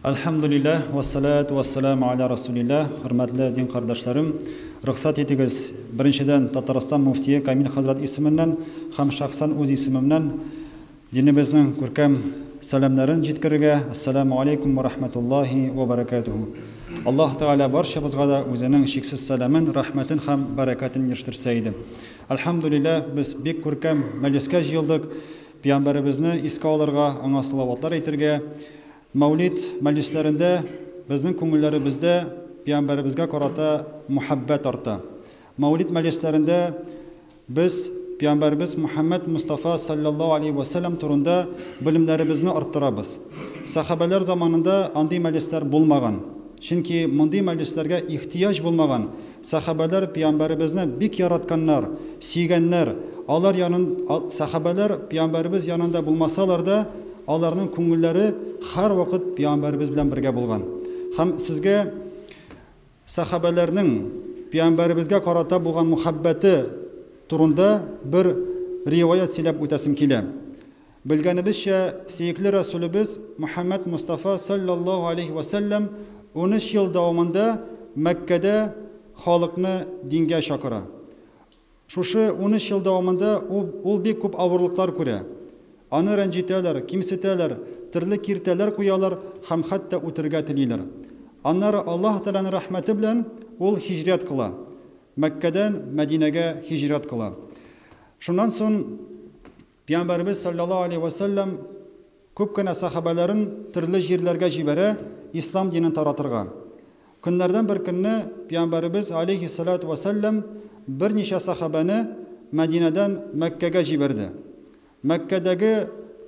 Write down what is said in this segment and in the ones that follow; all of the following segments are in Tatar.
Әлхәмдүлилләһ, вәссәләтү вәссәләмү галә рәсүлилләһ, хөрмәтле дин кардәшләрем! Рөхсәт итегез, беренчедән, Татарстан мөфтие Камил хәзрәт исеменнән һәм шәхсән үз исемемнән динебезнең күркәм сәламнәрен җиткерергә, Әссәләмү галәйкүм вә рәхмәтуллаһи вә бәрәкәтүһү! Аллаһ Тәгалә барчабызга да үзенең чиксез сәламен, рәхмәтен һәм бәрәкәтен ирештерсә иде. Әлхәмдүлилләһ, без бик күркәм мәҗлескә җыелдык. Пиамбәребезне искә алырга, аңа салаватлар әйтергә, Мәүлид мәҗлесләрендә безнең күңелләребездә Пиамбәребезгә карата мәхәббәт арта. Мәүлид мәҗлесләрендә без Пиамбәребез Мөхәммәд Мостафа салләллаһу аләйһи вә сәлләм турында белемнәребезне арттырабыз. Сәхабәләр заманында андый мәҗлесләр булмаган. Чөнки мондый мәҗлесләргә ихтыяҗ булмаган, сәхабәләр Пәйамбәребезне бик яратканнар, сөйгәннәр, алар янын Сәхабәләр Пәйамбәребез янында булмасалар да, аларның күңелләре һәрвакыт Пәйамбәребез белән бергә булган. Һәм сезгә Сәхабәләрнең Пәйамбәребезгә карата булган мөхәббәте турында бер риваять сөйләп үтәсем килә. Белгәнебезчә, сөекле Рәсүлебез Мөхәммәд Мостафа салләллаһу алейһи вә сәлләм унөч ел дәвамында Мәккәдә халыкны дингә чакыра. Шушы унөч ел дәвамында ул бик күп авырлыклар күрә. Аны рәнҗетәләр, кимсетәләр, төрле киртәләр куялар һәм хәтта үтерергә телиләр. Аннары Аллаһ Тәгаләнең рәхмәте белән ул һиҗрәт кыла, Мәккәдән Мәдинәгә һиҗрәт кыла. Шуннан соң Пиамбәребез салләллаһу алейһи вә сәлләм күп кенә сәхабәләрен төрле җирләргә җибәрә ислам динен таратырга. Көннәрдән бер көнне Пиамбәребез алейһи саләтү вә сәлләм берничә сәхабәне Мәдинәдән Мәккәгә җибәрде, Мәккәдәге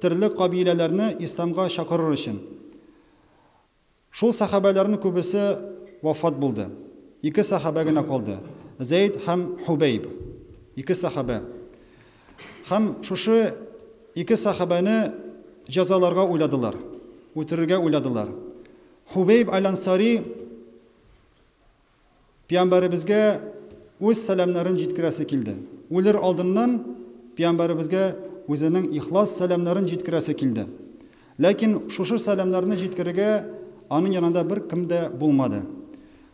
төрле кабиләләрне исламга чакырыр өчен. Шул сәхабәләрнең күбесе вафат булды. Ике сәхабә генә калды, Зәйд һәм Һубәйб. Ике сәхабә. Һәм шушы ике сәхабәне җәзаларга уйладылар, үтерергә уйладылар. Һубәйб әл-Ансари Пиамбәребезгә үз сәламнәрен җиткерәсе килде. Үлер алдыннан Пиамбәребезгә үзенең ихлас сәламнәрен җиткерәсе килде. Ләкин шушы сәламнәрне җиткерергә аның янында бер кем дә булмады.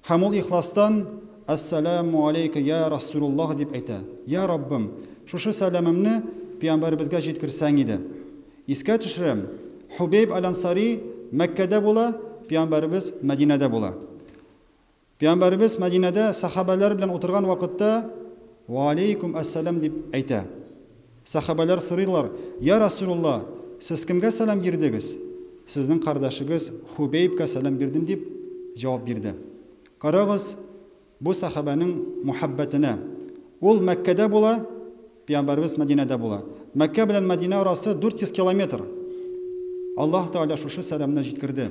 Һәм ул ихластан, Әссәләмү аләйкә, йә Расулуллаһ! дип әйтә. Йә Раббым, шушы сәламемне Пиамбәребезгә җиткерсәң иде. Искә төшерәм, Хубәйб әл-Ансари Мәккәдә була, Пиамбәребез Мәдинәдә була. Пәйгамбәребез Мәдинәдә сәхабәләр белән утырган вакытта, Вәаләйкүм әссәлам дип әйтә. Сәхабәләр сорыйлар, Йә Расыйлулла, сез кемгә сәлам бирдегез? Сезнең кардәшегез Хубәйбкә сәлам бирдем дип җавап бирде. Карагыз, бу сәхабәнең мухәббәтенә. Ул Мәккәдә була, Пәйгамбәребез Мәдинәдә була. Мәккә белән Мәдинә арасы 400 километр. Аллаһ Тәгалә шушы сәламне җиткерде.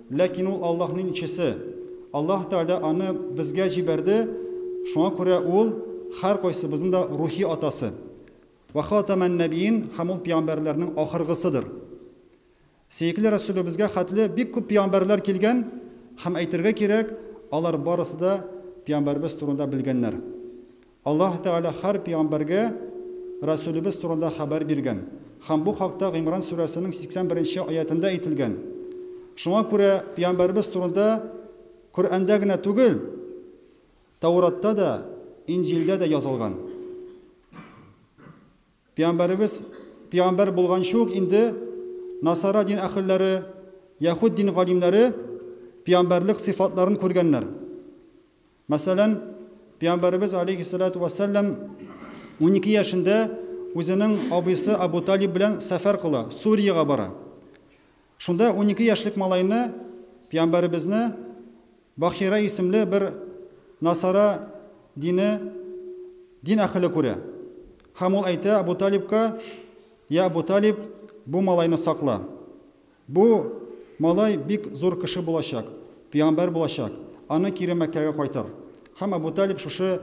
Ләкин ул Аллаһның илчесе. Аллаһ Тәгалә аны безгә җибәрде, шуңа күрә ул, һәркайсыбызның да рухи атасы. Вә хатамәннәбиин, һәм ул пигамбәрләрнең ахыргысыдыр. Сөекле Рәсүлебезгә хәтле бик күп пигамбәрләр килгән, һәм әйтергә кирәк, алар барысы да пигамбәребез турында белгәннәр. Аллаһ Тәгалә һәр пигамбәргә Рәсүлебез турында хәбәр биргән һәм бу хакта Гыймран сүрәсенең 81 нче аятендә әйтелгән. Шуңа күрә пигамбәребез турында Коръәндә генә түгел, Тәуратта да, Инҗилдә дә язылган. Пигамбәребез пигамбәр булганчы ук инде Насара дин әһелләре, Яһүд дин галимнәре пигамбәрлек сыйфатларын күргәннәр. Мәсәлән, Пәйгамбәребез галәйһиссәлатү вәссәлам унике яшендә үзенең абыйсы Әбү Талиб белән сәфәр кыла, Суриягә бара. Шунда унике яшьлек малайны, Пәйгамбәребезне, Бахира исемле бер насара дине дин әһеле күрә. Һәм ул әйтә Әбү Талибка, Йә Әбү Талиб, бу малайны сакла. Бу малай бик зур кеше булачак, пиамбәр булачак, аны кире Мәккәгә кайтар. Һәм Әбү Талиб шушы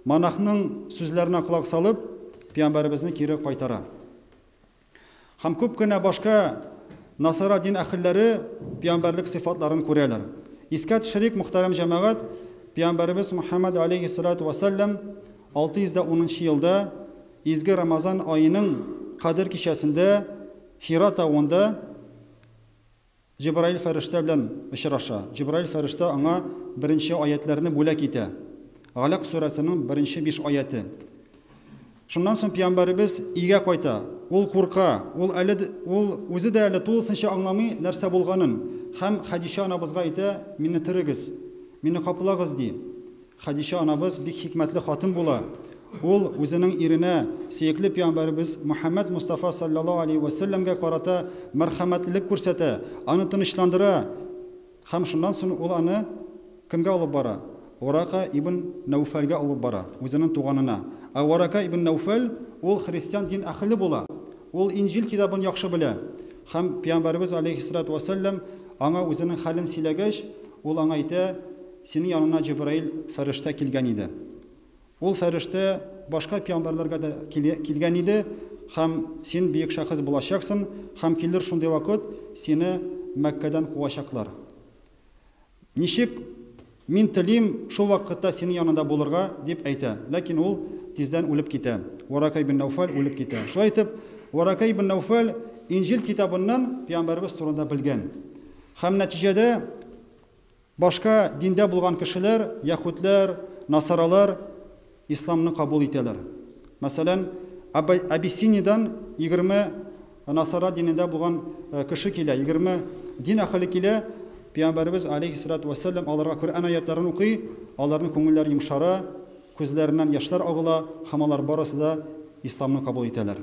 монахның сүзләренә колак салып, пиамбәребезне кире кайтара. Һәм күп кенә башка насара дин әһелләре пиамбәрлек сыйфатларын күрәләр. Искә төшерик, мөхтәрәм җәмәгать, пиамбәребез Мөхәммәд аләйһиссәлатү вәссәлләм 610 нчы елда, изге Рамазан аеның Кадер кичәсендә Хира тавында Җебраил фәрештә белән очраша. Җебраил фәрештә аңа беренче аятьләрне бүләк итә. Галәк сүрәсенең беренче биш аятье. Шуннан соң пиамбәребез өйгә кайта. Ул курка, ул әле ул үзе дә әле тулысынча аңламый нәрсә булганын һәм Хәдичә анабызга әйтә, Мине терегез, мине каплагыз, ди. Хәдичә анабыз бик хикмәтле хатын була. Ул үзенең иренә, сөекле пиамбәребез Мөхәммәд Мостафа салләллаһу алейһи вә сәлләмгә карата мәрхәмәтлелек күрсәтә, аны тынычландыра һәм шуннан сон ул аны кемгә алып бара? Варака ибн Нәүфәлгә алып бара, үзенең туганына. Ә Варака ибн Нәүфәл ул христиан дин әһеле була. Ул Инҗил китабын яхшы белә һәм пиамбәребез алейһиссалату вә сәлләм аңа үзенең хәлен сөйләгәч, ул аңа әйтә, Синең яныңа Җәбраил фәрештә килгән иде. Ул фәрештә башка пиамбәрләргә дә килгән иде һәм син бөек шәхес булачаксын һәм килер шундый вакыт, сине Мәккәдән куачаклар. Ничек Мин телим, шул вакытта синең яныңда булырга, дип әйтә. Ләкин ул тиздән үлеп китә. Варакә ибн Нәүфәл үлеп китә. Шулай итеп, Варакә ибн Нәүфәл Инҗил китабыннан пиамбәребез турында белгән һәм нәтиҗәдә, Башка диндә булган кешеләр, яһүдләр, насаралар, исламны кабул итәләр. Мәсәлән, Абай, Абиссиниядән егерме насара динендә булган кеше килә, егерме дин әһеле килә, Пәйгамбәребез, аләйһиссәлатү вәссәлам, аларга Коръән аятьләрен укый, аларның күңелләре йомшара, күзләреннән яшьләр агыла һәм алар барысы да исламны кабул итәләр.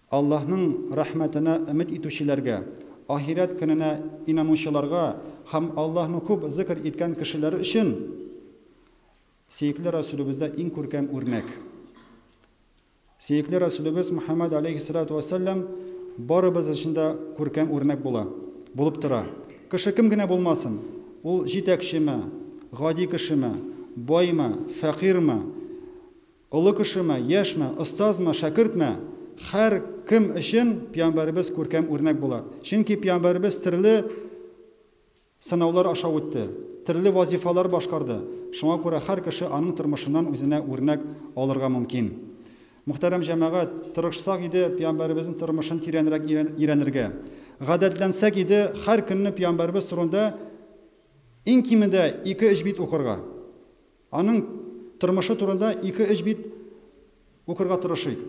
Аллаһның рәхмәтенә өмет итүчеләргә, ахирәт көненә инанучыларга һәм Аллаһны күп зикер иткән кешеләр өчен сөекле Рәсүлебездә иң күркәм үрнәк. Сөекле Рәсүлебез Мөхәммәд аләйһиссәлату вәссәлам барыбыз өчен дә күркәм үрнәк була, булып тора. Кеше кем генә булмасын, ул җитәкчеме, гади кешеме, баймы, фәкыйрьме, Олы кешеме, яшьме, остазмы, шәкертме, хәр кем өчен пиамбәребез күркәм үрнәк була. Чөнки пиамбәребез терле сынаулар аша үтте, терле вазифалар башкарды, шуңа күрә хәр кеше аның тормышыннан үзенә үрнәк алырга мөмкин. Мөхтәрәм җәмәгать, тырышсак иде пиамбәребезнең тормышын тирәнрәк өйрәнергә. Гадәтләнсәк иде хәр көнне пиамбәребез турында иң кимендә ике-өч бит укырга. Аның тормышы турында ике-өч бит укырга тырышыйк.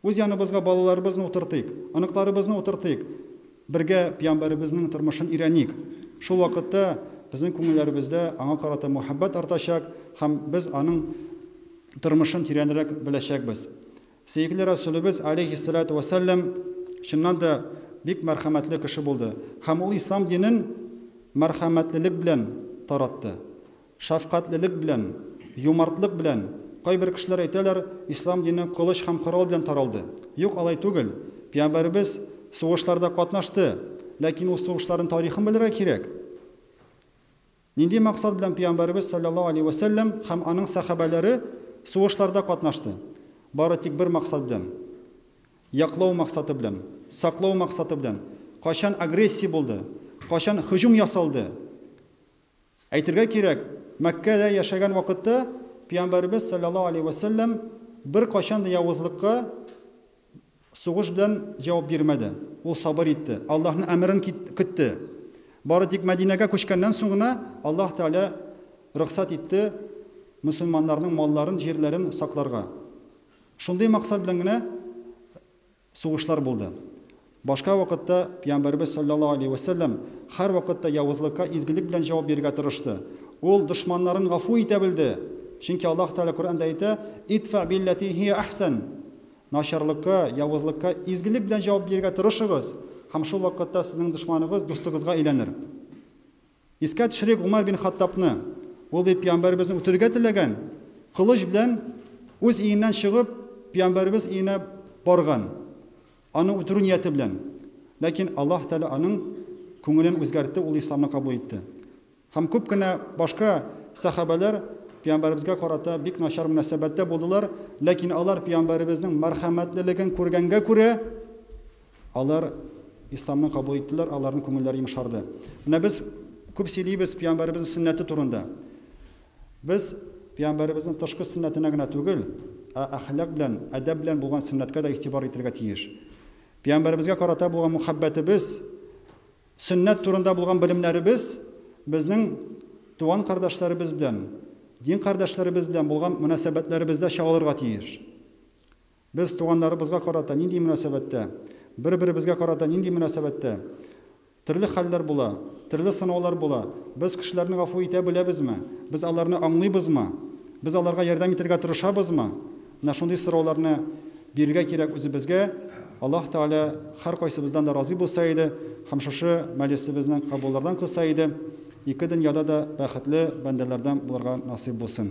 Үз яныбызга балаларыбызны утыртыйк, оныкларыбызны утыртыйк, бергә Пиямбәребезнең тормышын өйрәник. Шул вакытта безнең күңелләребездә аңа карата мәхәббәт артачак һәм без аның тормышын тирәнрәк беләчәкбез. Сөекле Рәсүлебез, аләйһиссәлатү вәссәлам, чыннан да, бик мәрхәмәтле кеше булды һәм ул ислам динен мәрхәмәтлелек белән таратты, шәфкатьлелек белән, юмартлык белән. Кайбер кешеләр әйтәләр, ислам дине кылыч һәм корал белән таралды. Юк, алай түгел. Пиямбәребез сугышларда катнашты, ләкин ул сугышларның тарихын белергә кирәк. Нинди максат белән Пөйамбәребез салләллаһу алейһи вә сәлләм һәм аның сәхабәләре сугышларда катнашты? Бары тик бер максат белән, яклау максаты белән, саклау максаты белән. Кайчан агрессия булды, кайчан һөҗүм ясалды? Әйтергә кирәк, Мәккәдә яшәгән вакытта Пөйамбәребез салләллаһу алейһи вә сәлләм беркайчан да явызлыкка, Сугыш белән җавап бирмәде. Ул сабыр итте, Аллаһның әмерен көтте. Бары тик Мәдинәгә күчкәннән соң гына Аллаһ Тәгалә рөхсәт итте мөселманнарның малларын, җирләрен сакларга. Шундый максат белән генә сугышлар булды. Башка вакытта Пәйгамбәребез салләллаһу галәйһи вә сәлләм һәрвакытта явызлыкка изгелек белән җавап бирергә тырышты. Ул дошманнарын гафу итә белде, чөнки Аллаһ Тәгалә Коръәндә әйтә, Идфә билләти һия әхсән, Начарлыкка, явызлыкка изгелек белән җавап бирергә тырышыгыз, һәм шул вакытта сезнең дошманыгыз дустыгызга әйләнер. Искә төшерик Гомәр бин Хаттабны. Ул бит Пәйгамбәребезне үтерергә теләгән, кылыч белән үз өеннән чыгып, Пәйгамбәребез өенә барган, аны үтерү нияте белән. Ләкин Аллаһ Тәгалә аның күңелен үзгәртте, ул исламны кабул итте. Һәм күп кенә башка сәхабәләр пиамбәребезгә карата бик начар мөнәсәбәттә булдылар, ләкин алар пиамбәребезнең мәрхәмәтлелеген күргәнгә күрә, алар исламны кабул иттеләр, аларның күңелләре йомшарды. Менә без күп сөйлибез пиамбәребезнең сөннәте турында. Без пиамбәребезнең тышкы сөннәтенә генә түгел, ә әхлак белән, әдәп белән булган сөннәткә дә игътибар итәргә тиеш. Пиамбәребезгә карата булган мөхәббәтебез, Сөннәт турында булган белемнәребез безнең туган кардәшләребез белән, дин кардәшләребез белән булган мөнәсәбәтләребездә чагылырга тиеш. Без туганнарыбызга карата нинди мөнәсәбәттә, бер-беребезгә карата нинди мөнәсәбәттә? Төрле хәлләр була, төрле сынаулар була. Без кешеләрне гафу итә беләбезме? Без аларны аңлыйбызмы? Без аларга ярдәм итәргә тырышабызмы? Менә шундый сорауларны бирергә кирәк үзебезгә. Аллаһ Тәгалә һәркайсыбыздан да разый булса иде һәм шушы мәҗлесебезнең кабуллардан кылса иде. Ике дөньяда да бәхетле бәндәләрдән булырга насыйп булсын.